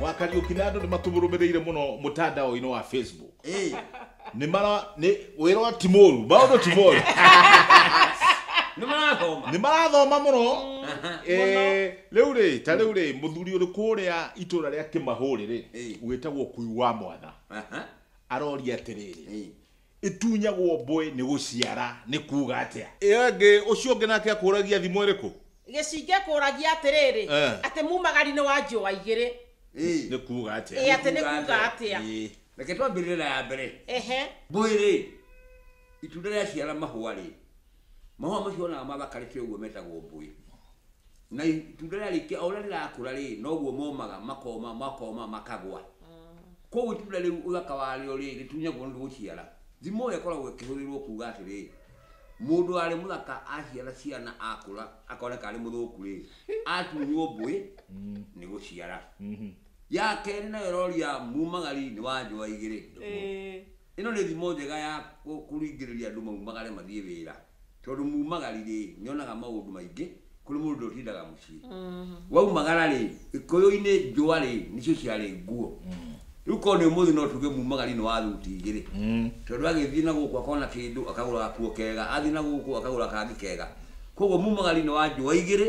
wa Kariuki na andũ nĩ matũmũrũmĩrĩire mũno mũtandao-inĩ wa Facebook Ĩĩ. nĩ mara nĩ wĩra ũyũ ti mũru maũndũ ti moru nĩ marathoma nĩ marathoma mũno Aha. Eh, rĩu rĩ ta rĩu rĩ mũthuri ũrĩ kũrĩa itũra rĩa kĩmahũrĩ rĩ Ĩĩ. wĩtagwo kui wa mwana Aha. aroria atĩrĩrĩ Ĩĩ. Ĩtunyagwo mbwe nĩ gũciara nĩ kuuga atĩa? Ĩyo ĩngĩ, ũcio ũngĩ nake akũũragia thimo ĩrĩkũ? Gĩcingĩ kũũragia atĩrĩrĩ, Eh. Atĩ muumagari-inĩ wa njũa igĩrĩ. Ĩ. Nĩ kuuga Ĩ, atĩa? atĩ nĩ kuuga atĩa? Ĩ. Reke twambĩrĩrie na ya mbere. Ehe. Mbũĩ-rĩ, itunda rĩaciara mahũa-rĩ, Mahũa macio onaga mathakarĩte ũguo metagwo mbũĩ. Na itunda rĩarĩkia o ũrĩa rĩrakũra rĩ, noguo momaga makoma makoma makagwa. Koguo itunda rĩu ũthaka warĩo rĩ, rĩtunyagwo nĩ gũciara. Thimo ĩyo ĩkoragwo ĩkĩhũthĩrwo kuga atĩrĩ, mũndũ warĩ mũthaka aciara ciana akũra akoneka arĩ mũthũku rĩ, atunywo mbũĩ nĩ gũciara. Ya kerĩ nayo ĩroria mumagari nĩ wa njũa igĩrĩ. Ĩĩ. Ĩno nĩ thimo njega ya kũringĩrĩria andũ maumagare mathiĩ wĩra, tondũ mumagari-rĩ, nĩonaga maũndũ maingĩ kũrĩ mũndũ ũrĩa ũtindaga mũciĩ. Waumagara-rĩ, Gĩkũyũ-inĩ njũa-rĩ, nĩcio ciarĩ nguo. Rĩu korwo nĩ ũmũthĩ no tuge mumagari nĩ wa thuti igĩrĩ, tondũ agĩthiĩ na gũkũ akona kĩndũ akagũra gakuo kega, athiĩ na gũkũ akagũra kangĩ kega. Kuoguo mumagari nĩ wa njũa igĩrĩ.